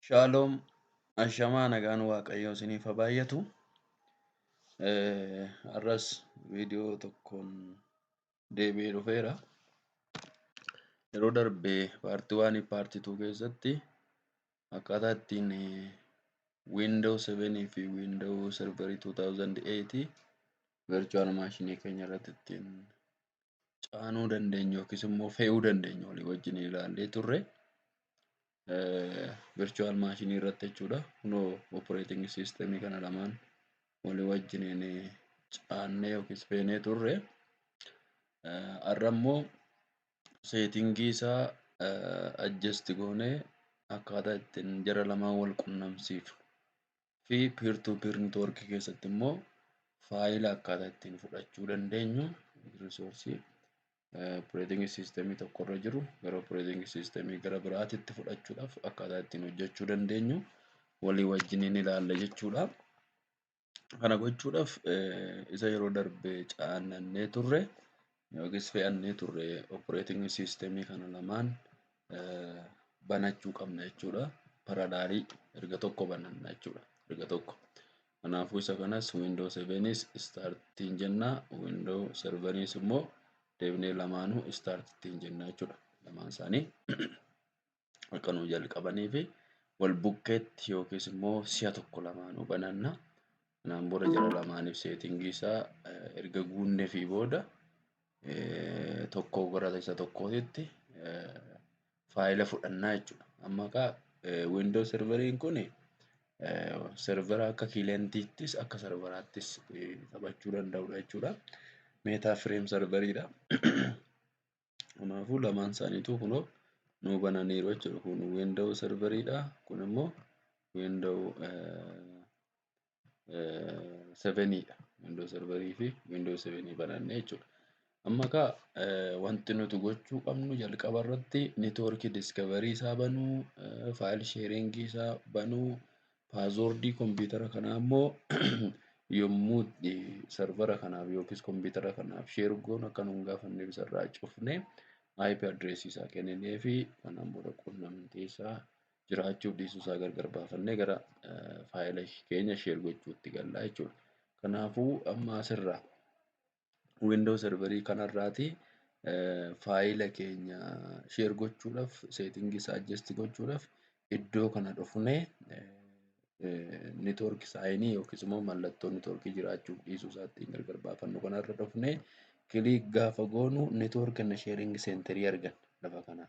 Shaaloom ashamaa nagaan waaqayyoo isiniif haa baay'atu. Har'as viidiyoo tokkoon deebi'ee dhufeera. Yeroo darbe paartii waanii paartii tuu keessatti akkaataa ittiin Windows 7 fi Windows Server 2008 virtual maashinii keenya irratti ittiin caanuu dandeenyu yookiis immoo fe'uu dandeenyu walii wajjin ilaallee turre virtual maashinii irratti jechuudha. Kunoo operating system kana lamaan walii wajjin caannee yookiis feenee turre. Har'a immoo seetingii isaa adjust goonee akkaataa ittiin jara lamaan wal qunnamsiifnu fi peer to peer network keessatti immoo faayila akkaataa ittiin fudhachuu dandeenyu risoorsii operating system tokko irra jiru gara operating system gara biraatitti fudhachuudhaaf akkaataa ittiin hojjechuu dandeenyu walii wajjin ni ilaalla jechuudha. Kana gochuudhaaf isa yeroo darbe caannannee turre yookiis fe'annee turre operating system kana lamaan banachuu qabna jechuudha. Paradaarii erga tokko bananna jechuudha. Erga tokko. Kanaafuu isa kanas window 7s startiin jenna window serveriis immoo deebinee lamaanuu startittiin jenna jechuudha. Lamaan isaanii. akka nuu jalqabanii fi wal bukkeetti yookiis immoo si'a tokko lamaanuu bananna. Kanaan booda jara lamaaniif seetingii isaa eh, erga guunnee fi booda eh, tokko gara isa tokkootitti eh, faayila fudhannaa jechuudha. Amma egaa eh, Windows serveriin kun eh, servera akka kiilentiittis akka serveraattis eh, taphachuu danda'udha jechuudha. Meetaa fireem serveriidha. Kanaafuu lamaan isaaniituu kunoo nuu bananiiru jechuudha. Kun window serveriidha. Kun immoo window seveniidha. Window serverii fi window sevenii bananne jechuudha. Amma egaa wanti nuti gochuu qabnu jalqaba irratti network discovery isaa banuu, file sharing isaa banuu, Paaswoordii kompiitara kanaa immoo yommuu itti sarvara kanaaf yookiis kompiitara kanaaf sheer goonu akka nu hin gaafanneef isarraa cufnee IP address isaa kenninee fi kanaan booda quunnamtii isaa jiraachuu dhiisuu isaa gargar baafannee gara faayila keenya sheer gochuutti gallaa jechuudha. Kanaafuu amma asirraa Windows server kanarraati faayila keenya share gochuudhaaf setting isaa adjust gochuudhaaf iddoo kana dhufnee network saayinii yookiis immoo mallattoo network jiraachuuf dhiisuu isaattiin gargar baafannu kanarra dhufnee click gaafa goonu network and sharing center arganna lafa kanaa.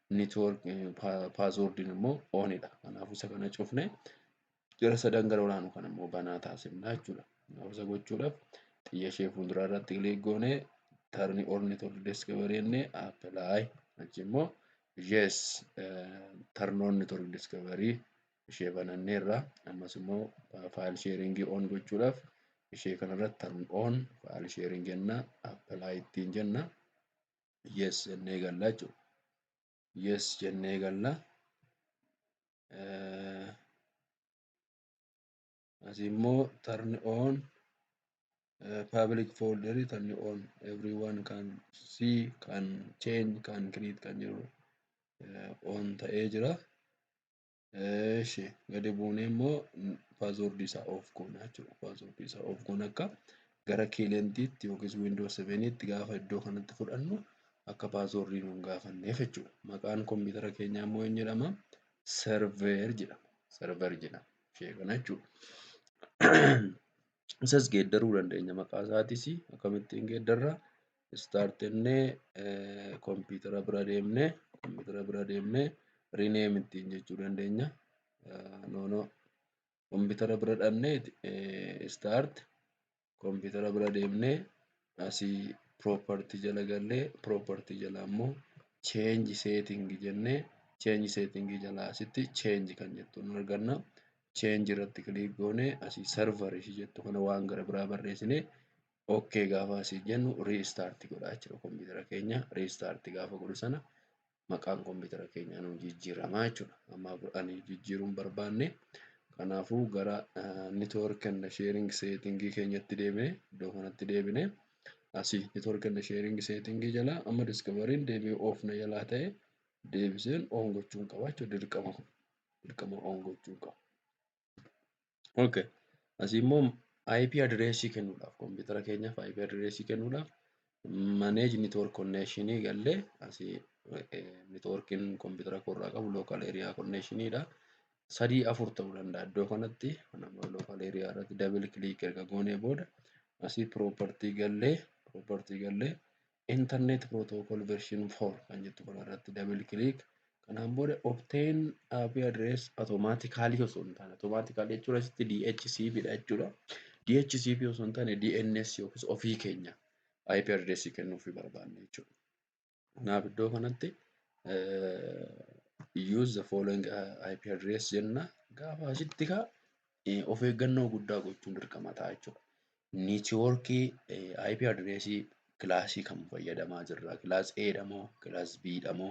network paaswoordiin immoo oonidha. Kanaafuu isa kana cufne jara sadan gara olaanu kan immoo banaa taasifna jechuudha. Kanaafuu isa gochuudhaaf xiyya ishee fuulduraa irratti kilik goone tarni or network discovery inni apply achi immoo yes tarnoon network discovery ishee bananneerra ammas immoo faayil sheeringii on gochuudhaaf ishee kanarratti tarn on faayil sheering jenna apply ittiin jenna. yes jennee galla jechuudha. Yes jennee galla. Asii immoo turn on public folder turn on everyone can see can change can create kan jedhu on ta'ee jira. Eeshi gadi buunee immoo paasoordii isaa oof goona jechuudha. Paasoordii isaa oof goona akka gara kiilentiitti yookiis wiindoo seveniitti gaafa iddoo kanatti fudhannu akka paasoordii nuun gaafanneef jechuudha. Maqaan kompiitara keenyaa immoo eenyu jedhama? Server jedhama. Server jedhama. Ishee kana jechuudha. Isas geeddaruu dandeenya maqaa isaatis akkamittiin geeddarra start jennee kompiitara bira deemnee kompiitara bira deemnee rename ittiin jechuu dandeenya. No no kompiitara bira dhannee start kompiitara bira deemnee asii property jala gallee property jala ammoo change setting jennee change setting jala asitti change kan jettu nu arganna. Change irratti click goonee asii server ishii jettu kana waan gara biraa barreessinee ok gaafa asii jennu restart godha jechuudha kompiitara keenya restart gaafa godhu sana maqaan kompiitara keenyaa nu jijjiirama jechuudha amma ani jijjiiruun barbaanne kanaafuu gara network and sharing setting keenyatti deebine iddoo kanatti deebine asii network and sharing setting jala amma discovery'n deebi'e off na jalaa ta'e deebiseen on gochuun qaba jechuudha dirqama dirqama on gochuun qaba. Okay. Asii immoo IP address kennuudhaaf kompiitara keenyaaf IP address kennuudhaaf manage network connection gallee asii networkin kompiitara koorraa qabu local area connection dha. Sadii afur ta'uu danda'a iddoo kanatti nama local area irratti double click erga goonee booda asii property gallee property gallee internet protocol version 4 kan jettu kana irratti double click kanaan booda obtain IP address automatically osoo hin taane automatically jechuun asitti DHCP dha jechuudha. DHCP osoo hin taane DNS yookiis ofii keenya IP address kennuuf barbaanne jechuudha. Kanaaf iddoo kanatti use the following IP address jenna gaafa asitti kaa of eeggannoo guddaa gochuun dirqama ta'a jechuudha. Niitiwoorkii IP adireesii kilaasii kam fayyadamaa jirra? Kilaas A dha moo, kilaas B dha moo,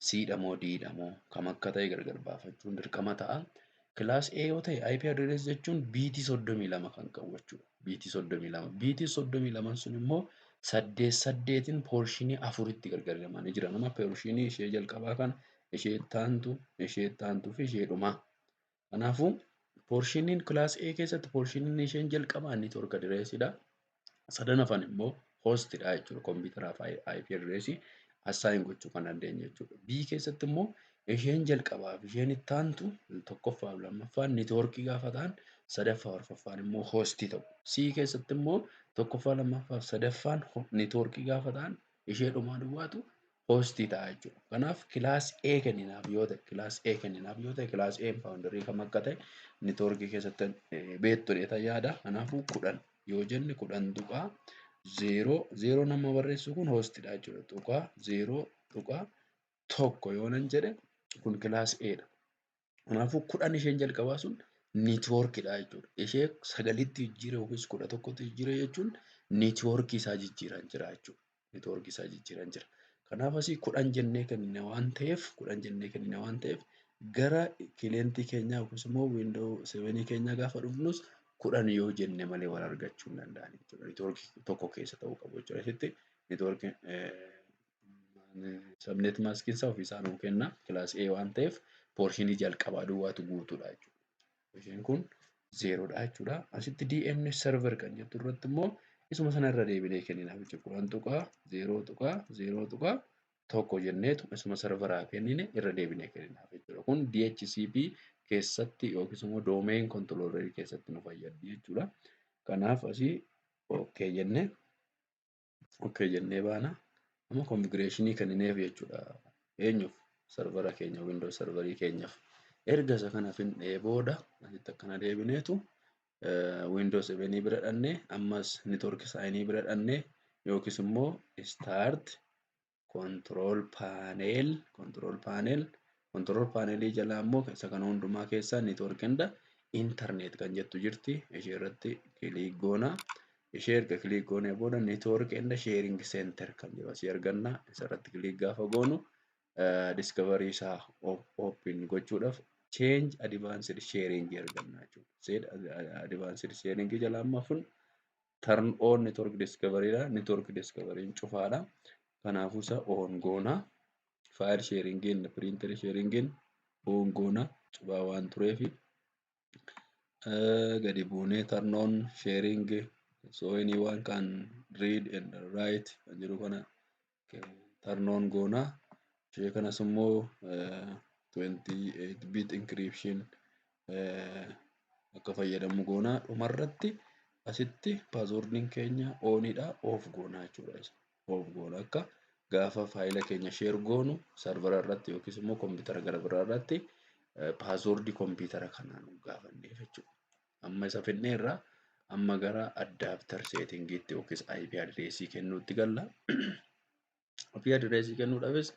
C dha moo, D dha moo kam akka ta'e gargar baafachuun dirqama ta'a. Kilaas A yoo ta'e IP adireesii jechuun biitii soddomii lama kan qabu jechuudha. Biitii soddomii lama. Biitiin soddomii laman sun immoo saddeet saddeetiin poorshinii afuritti gargar hiramanii jiran. Amma poorshinii ishee jalqabaa kana, ishee itti aantu, ishee itti aantuu fi ishee dhumaa. Kanaafuu poorshiiniin kilaas A keessatti poorshiiniin isheen jalqabaa inni torka direesidha. Sadan hafan immoo hoostidha jechuudha. Kompiitaraaf IP direesii assaayin gochuu kan dandeenye jechuudha. B keessatti immoo isheen jalqabaaf isheen itti aantu tokkoffaa fi lammaffaan niitoorkii gaafa ta'an sadaffaa arfaffaan immoo hoostii ta'u. C keessatti immoo tokkoffaa lammaffaa fi sadaffaan niitoorkii gaafa ta'an ishee dhumaa duwwaatu host ta'a jechuudha. Kanaaf class A kenninaaf yoo ta'e class A kenninaaf yoo ta'e class A boundary kam akka ta'e network keessatti beektu dheeta yaada. Kanaafuu kudhan yoo jenne kudhan tuqaa zeeroo zeeroo nama barreessu kun host dha jechuudha. Tuqaa zeeroo tuqaa tokko yoo nan jedhe kun class A dha. Kanaafuu kudhan isheen jalqabaa sun niitwoorkidha jechuudha. Ishee sagalitti jijjiire yookiis kudha tokkotti jijjiire jechuun niitwoorkii isaa jijjiiran jira jechuudha. Niitwoorkii isaa jijjiiran jira. Kanaaf asii kudhan jennee kennine waan ta'eef kudhan jennee kennine waan ta'eef gara kileentii keenyaa yookiis immoo wiindoo sevenii keenyaa gaafa dhufnus kudhan yoo jenne malee wal argachuu hin danda'an jechuudha. Niitwoorkii tokko keessa ta'uu qabu jechuudha. Asitti niitwoorkii Sabnet maaskiin isaa ofiisaa nuu kenna. Kilaas A waan ta'eef poorshinii jalqabaa duwwaatu guutuudha jechuudha. Isheen kun zeeroodha jechuudha. Asitti DNS server kan jettu irratti immoo isuma sana irra deebinee kenninaaf jechuudha. Kudhan tuqaa zeeroo tuqaa zeeroo tuqaa tokko jenneetu isuma serveraa kennine irra deebinee kenninaaf jechuudha. Kun DHCP keessatti yookiis immoo doomeen kontoloorerii keessatti nu fayyaddi jechuudha. Kanaaf asii OK jennee okay jennee baana amma konfigureeshinii kennineef jechuudha eenyuuf sarvara keenya windows sarvarii keenyaaf erga isa kana fixnee booda asitti akkana deebineetu windows evenii bira dhannee ammas network saayinii bira dhannee yookiis immoo start control panel control panel control panel jalaa immoo isa kana hundumaa keessaa network hunda internet kan jettu jirti ishee irratti click goona ishee erga click goonee booda network hunda sharing center kan jiru asii arganna isa irratti click gaafa goonu discovery isaa open gochuudhaaf change advanced sharing arganna jechuudha. Said advanced sharing jalaa amma kun turn on network discovery dha network discovery cufaadha kanaafuu isa on goona file sharing in printer sharing in on goona cufaa waan tureef gadi buunee turn on sharing so anyone can read and write kan jedhu kana tarnoon goona ishee kanas immoo 28 bit encryption akka fayyadamu goona dhumarratti asitti paasoordiin keenya oonidha oof goona jechuudha oof goona akka gaafa faayila keenya sheer goonu sarvara irratti yookiis immoo koompitara gara biraa irratti paasoordii koompitara kanaan gaafanneef jechuudha. Amma isa fidneerra amma gara addaaptar seetingiitti yookiis IP adireesii kennuutti galla. IP adireesii kennuudhaafis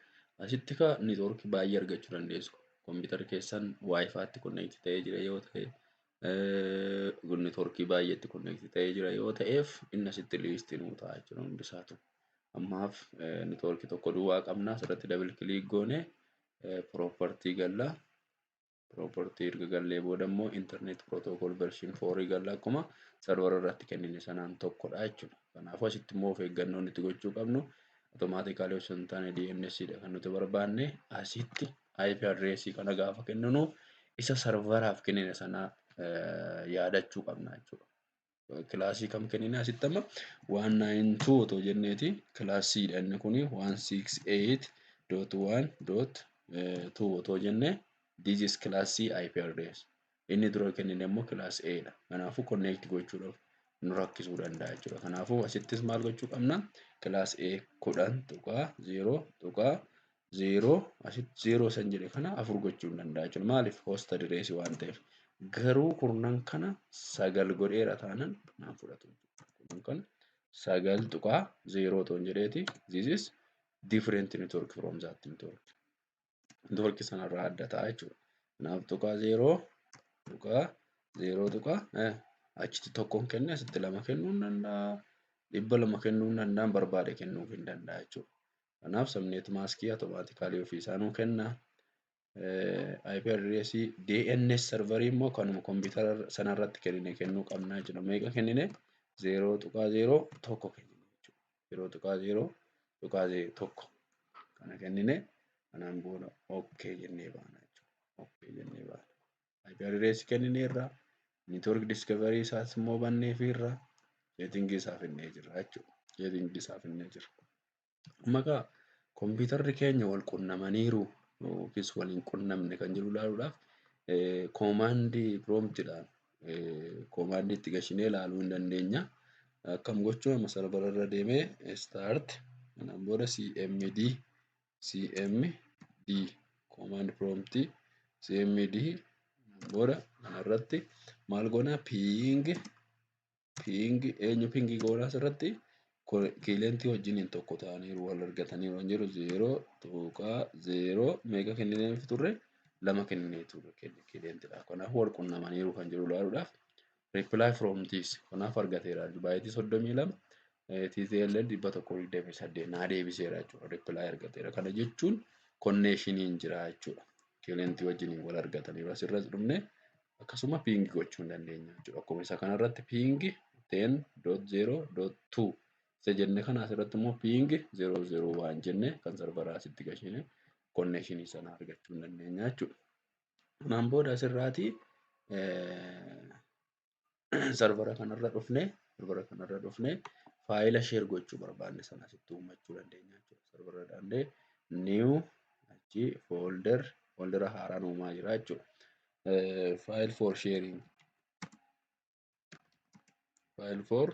asitti ka networkii baay'ee argachuu dandeessu. Kompiitarri keessan waayifaatti konneekti ta'ee jira yoo ta'e networkii baay'eetti konneekti ta'ee jira yoo ta'eef inni asitti liistii nuu ta'a jechuudha hundisaatu. Ammaaf networkii tokko duwwaa qabna asirratti double click goone property galla. property erga gallee booda immoo internet protocol version 4 galla akkuma server irratti kennine sanaan tokkodha jechuudha. Kanaafuu asitti immoo of eeggannoon itti gochuu qabnu automatically osoo hin taane DNS dha kan nuti barbaanne asitti IP address kana gaafa kenninu isa serveraaf kennine sanaa yaadachuu qabna jechuudha. kilaasii kam kennina asitti amma 192 otoo jenneeti kilaasiidha inni kun 168.1.2 otoo jenne this is class C IP address inni dura kennine immoo class A dha kanaafuu connect gochuudhaaf nu rakkisuu danda'a jechuudha kanaafuu asittis maal gochuu qabna class A 10.0.2 0 asitti 0 san jedhe kana afur gochuu hin danda'a jechuudha. Maaliif hosta direesii waan ta'eef. Garuu kurnan kana sagal godheera taanan naan fudhatu. Kurnan kana sagal tuqaa 0 toon jedheeti this is different network from that network. Network sanarraa adda ta'a jechuudha. Kanaaf tuqaa 0 tuqaa 0 tuqaa achitti tokkoon kenne asitti lama kennuu hin danda'a. Dhibba lama kennuu hin danda'an barbaade kennuu hin danda'a jechuudha. Kanaaf subnet maskii automatically ofii isaa nuu kenna. IP address DNS serverii immoo kanuma kompiitara sana irratti kennine kennuu qabna jechuudha. Meeqa kennine? 0.01 kennine jechuudha. 0.01 kana kennine kanaan booda OK jennee baana jechuudha. OK jennee baana. IP address kennine irraa network discovery isaas immoo bannee fi irraa setting isaa finnee jirra jechuudha. Setting isaa finnee jirra. Amma egaa kompiitarri keenya wal qunnamaniiru yookiis wal hin qunnamne kan jiru ilaaluudhaaf koomaandii piroomtiidhaan koomaandii itti gashinee ilaaluu hin dandeenya. Akkam gochuu amma sarvara irra deemee start kanaan booda cmd cmd koomaand piroomtii cmd booda kanarratti maal goona ping Pingi eenyu pingii goonaa asirratti kiilentii wajjin hin tokko ta'aniiru wal argatanii waan jiru zeeroo tuqaa zeeroo meeqa kennineef turre lama kenninee turre kiilentiidha. Kanaaf wal qunnamaniiru kan jiru ilaaluudhaaf reply from this kanaaf argateera baayitii soddomii lama TTL dhibba tokko digdamii saddeet naa deebiseera jechuudha reply argateera kana jechuun konneeshiniin jira jechuudha. Kiilentii wajjin wal argataniiru asirras dhumne akkasuma ping gochuu hin dandeenya jechuudha. Akkuma isa kanarratti ping 10.0.2 isa jenne kana asirratti immoo ping 001 jenne kan sarbaraa asitti gashine konneeshinii sana argachuu hin dandeenya jechuudha. Kanaan booda asirraati sarvara kanarra dhufne sarvara kanarra dhufne faayila sheer gochuu barbaanne sana asitti uummachuu dandeenya jechuudha. Sarvara dhaabnee new achi folder foldera haaraan uumaa jira jechuudha. File for sharing file for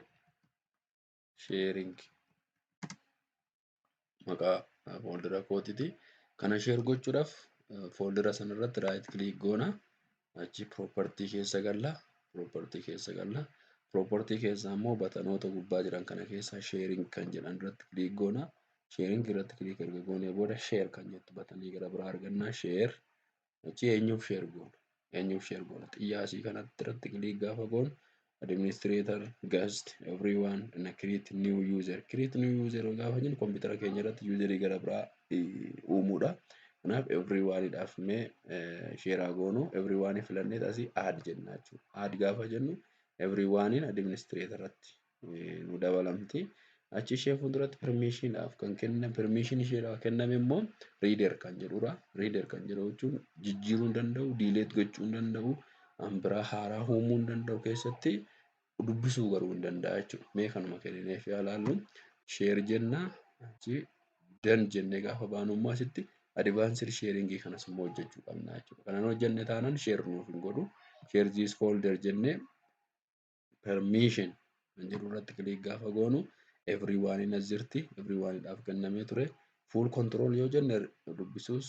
sharing maqaa fooldera kootiti. Kana share gochuudhaaf fooldera sanarratti right click goona. Achi property keessa galla. Property keessa galla. Property keessa ammoo batanoota gubbaa jiran kana keessa sharing kan jedhan irratti click goona. Sharing irratti click erga goonee booda share kan jettu batanii gara biraa arganna. Share Achi eenyuuf sheer goona? Eenyuuf sheer goona? Xiyyaasii kanatti irratti kiliik gaafa goonu administrator, guest, everyone, and create new user. Create new user gaafa jennu kompiitara keenya irratti yuuzarii gara biraa uumuudha. Kanaaf everyone dhaaf mee sheeraa goonu everyone filannee asii add jenna jechuudha. Add gaafa jennu everyone administrator irratti nu dabalamti. Achi ishee fuulduratti permiishiidhaaf kan kenne permiishiin isheedhaaf kenname immoo riider kan jedhudha. Riider kan jedhu jechuun jijjiiruu hin danda'u, diileet gochuu hin danda'u, waan biraa haaraa uumuu hin danda'u keessatti dubbisuu garuu hin danda'a jechuudha. Mee kanuma kennineef yaa laallu sheer jenna achi dan jennee gaafa baanu immoo asitti advaansir sheeringii kanas immoo hojjechuu qabna jechuudha. Kanan hojjenne taanaan sheer nuuf hin godhu. Sheer ziis foolder jennee permission kan jedhu irratti click gaafa goonu everyone in asirti everyone dhaaf kennamee ture full control yoo jenne dubbisuus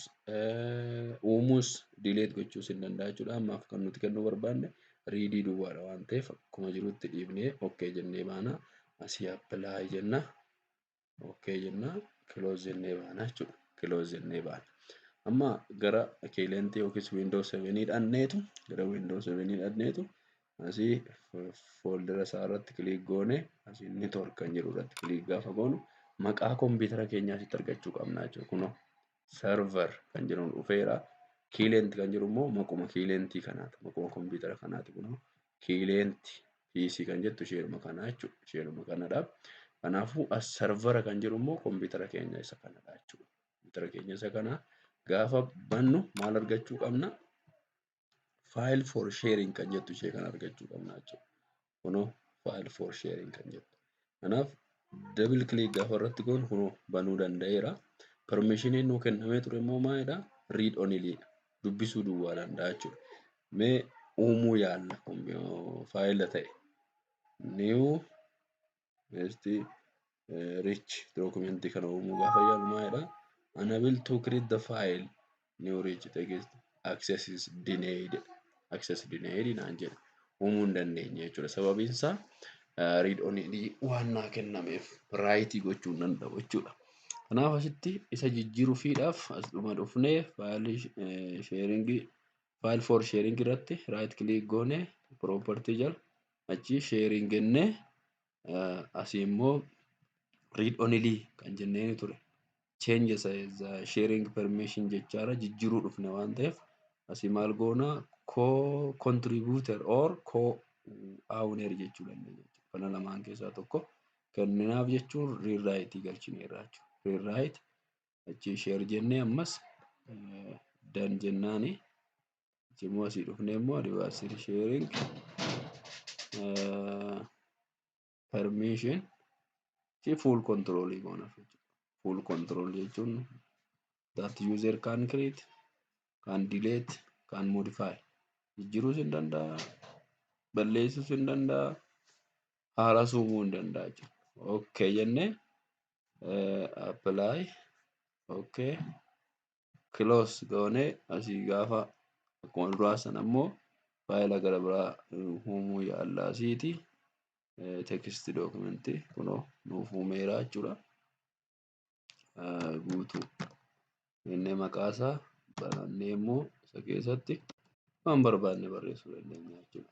uumuus delete gochuus hin danda'a jechuudha ammaaf kan nuti kennuu barbaanne riidii duwwaadha waan ta'eef akkuma jirutti dhiibnee ok jennee baana asii apply jenna Okkee jenna close jennee baana jechuudha. Close jennee baana. Amma gara kiilentii yookiis Windows 7 dhaqneetu gara Windows 7 dhaqneetu asii fooldera isaa irratti kiliik goone asii network kan jedhu irratti kiliik gaafa goonu maqaa kompiitara keenyaa asitti argachuu qabna jechuudha. Kunoo server kan jedhamu dhufeera. Kiileenti kan jedhu immoo maquma kiileentii kanaati. Maquma kompiitara kanaati kun kiileenti PC kan jettu isheedhuma kanaa jechuudha. Isheedhuma kanadha. Kanaafuu as servera kan jedhu immoo kompiitara keenya isa kanadha jechuudha. Kompiitara keenya isa kana gaafa bannu maal argachuu qabna? file for sharing kan jettu ishee kan argachuu qabna jechuudha. Kunoo file for sharing kan jettu. Kanaaf double click gaafa irratti goonu kunoo banuu danda'eera. Permishiniin nuu kennamee ture immoo maalidha? Read only dha. Dubbisuu duwwaa danda'a jechuudha. Mee uumuu yaalla faayila ta'e. New beesti rich dookumentii kana uumuu gaafa yaalu maalidha unable to create the file new rich text access is denied access denied naan jedha uumuu hin dandeenye jechuudha sababiin isaa read only waan naa kennameef raayitii gochuu hin danda'u jechuudha. Kanaaf asitti isa jijjiiruufiidhaaf as dhuma dhufnee faayilii sheeringii faayil foor sheeringii irratti raayit kiliik goone piroopartii jala Achii sharing jenne asii immoo read only kan jennee ture. Change the sharing permission jechaara jijjiiruu dhufne waan ta'eef asii maal goona co-contributor or co-owner jechuu dandeenya. Kana lamaan keessaa tokko kenninaaf jechuun rewrite galchineerra jechuudha. Rewrite achi share jennee ammas dan jennaani achi immoo asii dhufnee immoo advanced sharing permission fi full control goona full control jechuun that user can create can delete can modify jijjiruus hin danda'a balleessuus hin danda'a haaras uumuu hin danda'a jechuudha okay jennee apply okay close goone asii gaafa akkuma duraa sana immoo faayila gara biraa uumuu yaalla asiiti text document kunoo nuuf uumeera jechuudha guutuu inni maqaa isaa barannee immoo isa keessatti waan barbaanne barreessuu dandeenya jechuudha.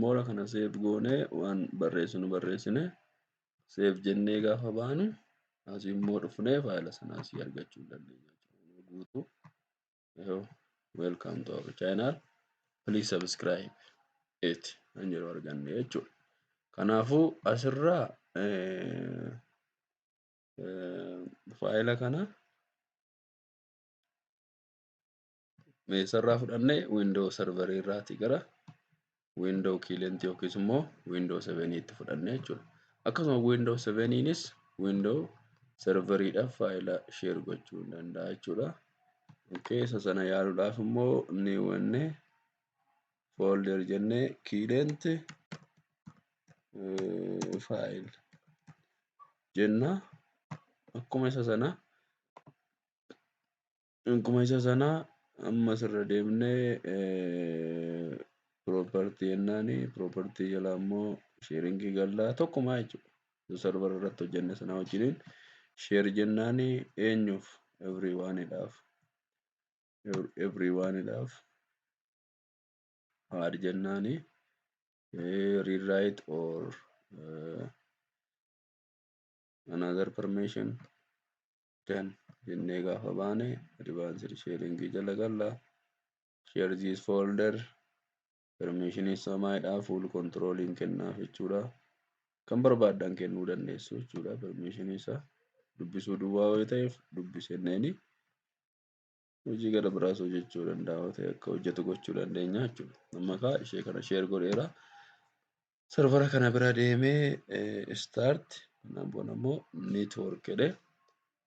Moora kana seef goonee waan barreessinu barreessine seef jennee gaafa baanu asii immoo dhufnee faayila sana asii argachuu hin dandeenya. Guutuu welcome to our channel please subscribe it kan jedhu arganne jechuudha. Kanaafuu asirraa faayila kana eessarraa fudhanne windoo sarvarii irraati gara windoo kiilentii yookiis immoo windoo seveniitti fudhanne jechuudha. Akkasuma windoo seveniinis windoo sarvariidhaaf faayila sheer gochuu hin danda'a jechuudha. Keessa sana yaaluudhaaf immoo ni wanne foolder jennee kiilenti faayil jenna akkuma isa sana Akkuma isa sana ammas irra deemnee property jennaani property jala ammoo sharing gallaa tokkumaa jechuudha. Isa server irratti hojjenne sana wajjiniin share jennaani eenyuuf everyone dhaaf everyone dhaaf add jennaani rewrite or uh, another permission dan jennee gaafa baane advanced sharing jala galla share this folder permission isaa maayidhaa full control hin kennaaf jechuudha kan barbaaddan kennuu dandeessu jechuudha permission isaa dubbisuu duwwaa yoo ta'eef dubbisenneeni hojii gara biraas hojjechuu danda'a yoo ta'e akka hojjetu gochuu dandeenya jechuudha. Amma kaa ishee kana share godheera. Sarvara kana bira deemee start kanaan booda immoo network jedhe.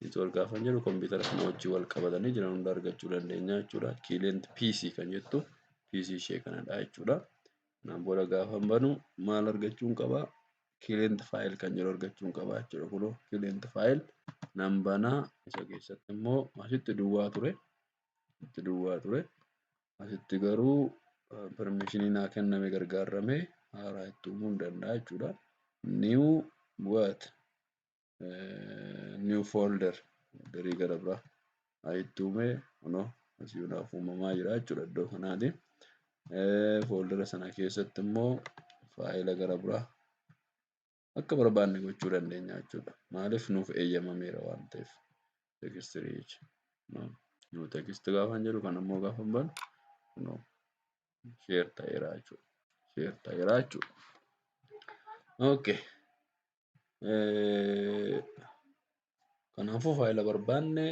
Network gaafa jedhu kompiitara kana wajjin wal qabatanii jiran hunda argachuu dandeenya jechuudha. Client PC kan jettu PC ishee kanadha jechuudha. Kanaan booda gaafa banu maal argachuun qaba? client file kan jedhu argachuun qaba jechuudha. Kunoo client file nan banaa isa keessatti immoo asitti duwwaa ture. Asitti duwwaa ture. Asitti garuu permission naa kenname gargaarame haaraa itti uumuu danda'a jechuudha. New what? new folder garii gara biraa ayitti uume kunoo asii hundaaf uumamaa jira jechuudha iddoo kanaati. Fooldera sana keessatti immoo faayila gara biraa akka barbaanne gochuu dandeenya jechuudha. Maaliif nuuf eeyyamameera waan ta'eef text reach new text gaafan jedhu kan immoo gaafa banu kunoo share ta'eera jechuudha. Share ta'eera jechuudha. Okay. Kanaafuu faayila barbaanne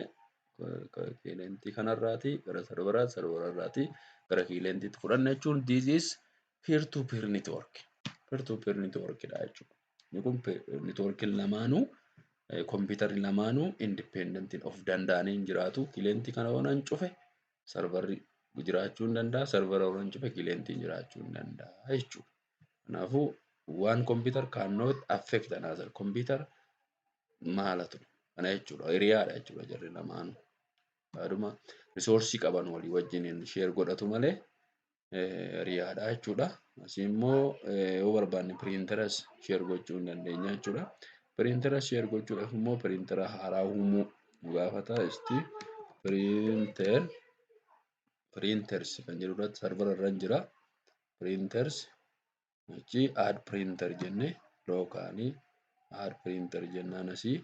kilayentii kanarraatii gara sarvaraatti, sarvararraatii gara kiliyentiitti fudhanna jechuun this is peer to peer network. Peer to peer network dha jechuudha. Inni kun networkiin lamaanuu kompiitarri lamaanuu independent of danda'anii hin jiraatu. Kilayentii kana yoonan cufe sarvarri jiraachuu hin danda'a, sarvara yoonan cufe kilayentiin jiraachuu hin danda'a jechuudha. Kanaafuu waan computer cannot affect another computer maala ture kana jechuudha hiriyaadha jechuudha jarri lamaanu yaaduma risoorsii qaban walii wajjiniin sheer godhatu malee hiriyaadha jechuudha asii immoo yoo barbaanne piriinteras sheer gochuu hin dandeenya jechuudha piriintera sheer gochuudhaaf immoo piriintera haaraa uumuu nu gaafata isti piriinter piriinters kan jedhu irratti sarvara irra jira. printers achi add printer jenne lookaanii add printer jennaan asii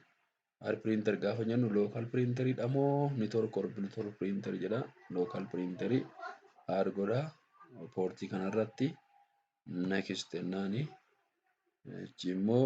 add printer gaafa jennu local printer dha moo network or bluetooth printer jedha local printer add godha poortii kanarratti next jennaani achi immoo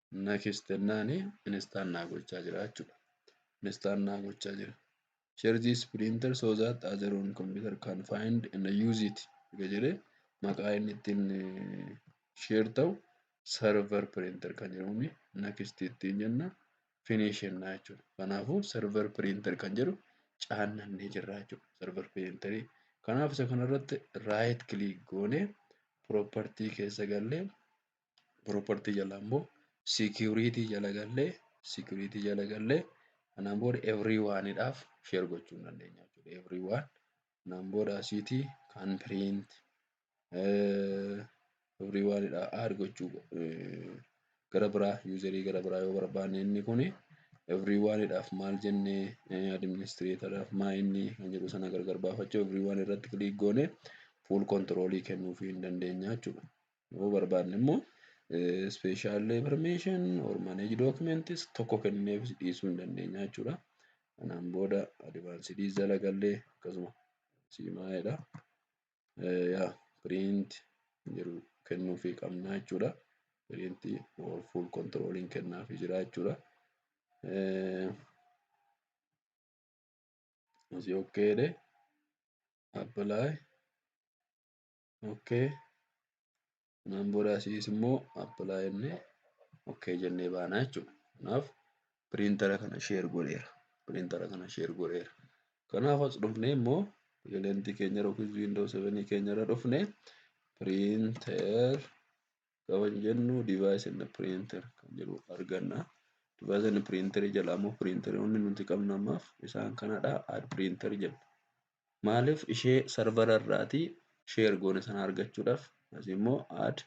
Next jennaani install naa gochaa jira jechuudha. Install naa gochaa jira. Share this printer so that other on computer can find and use it jedhee maqaa inni ittiin share ta'u server printer kan jedhamuun next ittiin jenna finish jenna jechuudha. Kanaafuu server printer kan jedhu caannannee jirra jechuudha. Server printer kanaaf isa kanarratti right click goonee property keessa gallee property jala immoo security jala gallee security jala gallee kanaan booda everyone dhaaf share gochuu hin dandeenya jechuudha. Everyone kanaan booda asiitii kan print everyone dha add gochuu gara biraa userii gara biraa yoo barbaanne inni kun everyone dhaaf maal jennee administrator dhaaf maa inni kan jedhu sana gargar baafachuu everyone irratti click goone full control kennuufii hin dandeenya jechuudha. Yoo barbaadne immoo special permission or manage documents tokko kennineef dhiisuu hin dandeenya jechuudha. Kanaan booda advanced jala gallee akkasuma siimaa'eedha. Yaa print jiru kennuufii qabna jechuudha. Print or full controlling kennaafii jira jechuudha. Asii okkeedhe apply okkee kanaan booda asiis immoo apply jennee okkee jennee baana jechuudha. Kanaaf piriintara kana sheer godheera. Piriintara kana sheer godheera. Kanaaf as dhufnee immoo elentii keenya yookiin wiindoo sevenii keenya irra dhufnee piriintar Gaafa jennu device and printer kan jedhu arganna. Device and printer jala ammoo printeroonni nuti qabnu ammaaf isaan kanadha. Add printer jenna. Maaliif ishee sarvara irraati sheer goone sana argachuudhaaf asi immoo add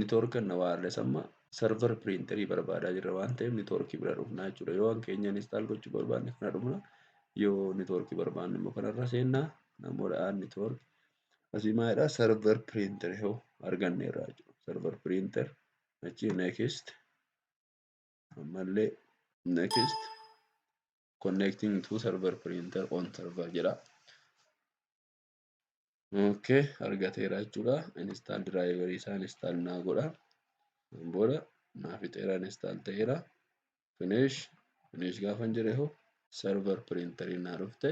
network and wireless amma sarvar printerii barbaadaa jirra waan ta'eef network bira dhufna jechuudha. Yoo waan keenya install gochuu barbaanne kana dhufna. Yoo network barbaanne immoo kanarra seenna. Namoota add network Asii maalidha server printer yoo arganne irraa jiru server printer achi next ammallee next connecting to server printer on server jedha. Okay argateera jechuudha install driver isaa install naa godha booda naa fixeera install ta'eera. Finish finish gaafan jedhe hoo server printeriin naa dhufte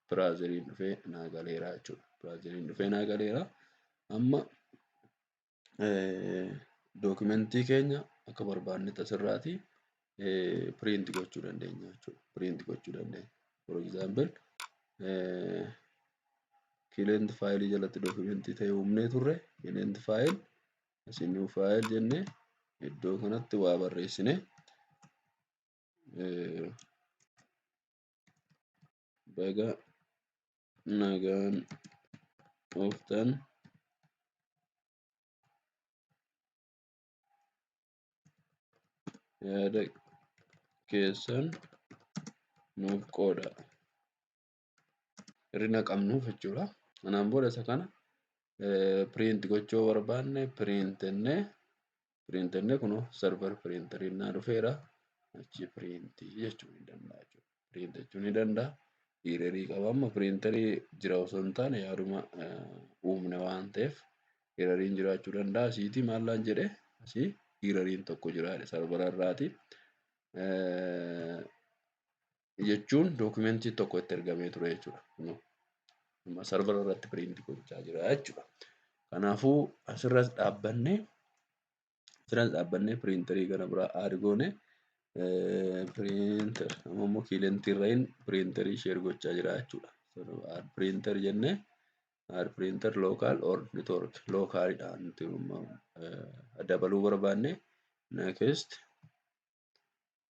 browseriin dhufee naa galeera jechuudha. Browseriin dhufee naa galeera. Amma dookumentii keenya akka barbaannetti asirraati print gochuu dandeenya jechuudha. Print gochuu dandeenya. For example client file jalatti dookumentii ta'e uumnee turre client file as a new file jenne iddoo kanatti waa barreessine baga nagaan dhuftan yaada keessan nuuf qooda. irri naqamnuuf jechuudha. Kanaan booda isa kana print gochuu barbaanne print jennee print jennee kunoo server printer innaa dhufeera. Achi print jechuu ni danda'a jechuudha. Print jechuu ni danda'a. Hirerii qaba amma printerii jira osoo hin taane yaaduma uumne waan ta'eef hireriin jiraachuu danda'a. Asiitii maallaan jedhee asii hireriin tokko jira servera irraati. jechuun dookumentii tokko itti ergamee ture jechuudha. Kunoo amma sarvara irratti piriinti gochaa jira jechuudha. Kanaafuu asirras dhaabbannee asirras dhaabbannee piriintarii gara biraa aadi goone piriintar amma immoo kiilentii irra hin piriintarii sheer gochaa jira jechuudha. Aad piriintar jennee aad piriintar lookaal or network lookaalidha nuti dabaluu barbaanne next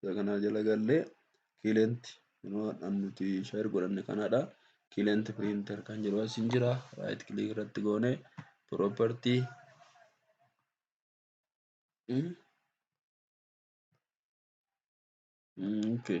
isa kanaa jala gallee client inoo nuti share godhanne kanaadha client printer kan jedhu as hin jira right click irratti goone property okay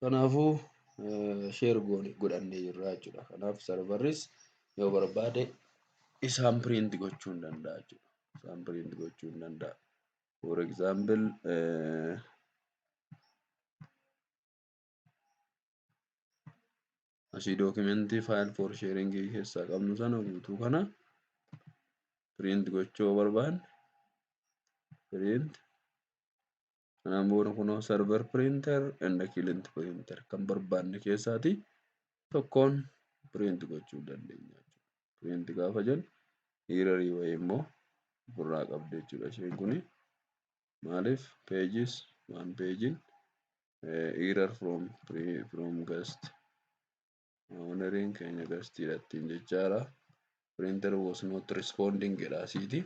Kanaafuu share goone godhannee jirra jechuudha. Kanaaf sarvarris yoo barbaade isaan print gochuu hin danda'a jechuudha. Isaan print gochuu hin danda'a. For example eh, asii dookimentii file for sharing keessaa qabnu sana guutuu kana print gochuu yoo barbaanne print Kanaan booda kunoo server printer and client printer kan barbaanne keessaati tokkoon print gochuu dandeenya jechuudha. Print gaafa jennu hiirarii wayii immoo ofirraa qabdi jechuudha isheen kuni. Maaliif pages waan pagein error from from guest Owneriin keenya gastiidha ittiin jechaadha. Printer was not responding jedha asiiti.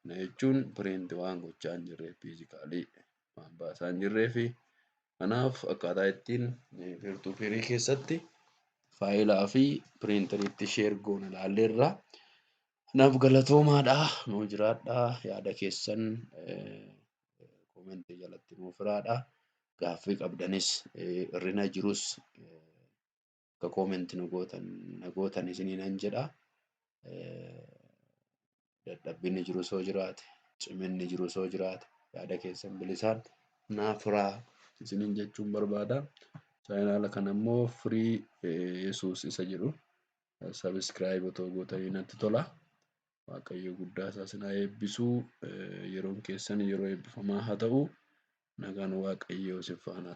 Kana jechuun print waan gochaa hin jirre fiizikaalii waan baasaa hin jirree fi kanaaf akkaataa ittiin virtuu firii keessatti faayilaa fi piriintariitti sheer goon ilaalleerra. Kanaaf galatoomaadha nuu jiraadha yaada keessan. komentii jalatti nuuf hiraadha. Gaaffii qabdanis irrina jirus akka komentii nu gootan na gootan isinii nan jedha. Dadhabbinni jiru soo jiraate ciminni jiru soo jiraate yaada keessan bilisaan naaf hiraa isiniin jechuun barbaada. Chaayinaala kana immoo firii Yesuus isa jedhu sabiskiraayib otoo gootanii natti tola. Waaqayyo guddaa isaa isin haa eebbisu. Yeroon keessan yeroo eebbifamaa haa ta'u. Nagaan Waaqayyoo isin faana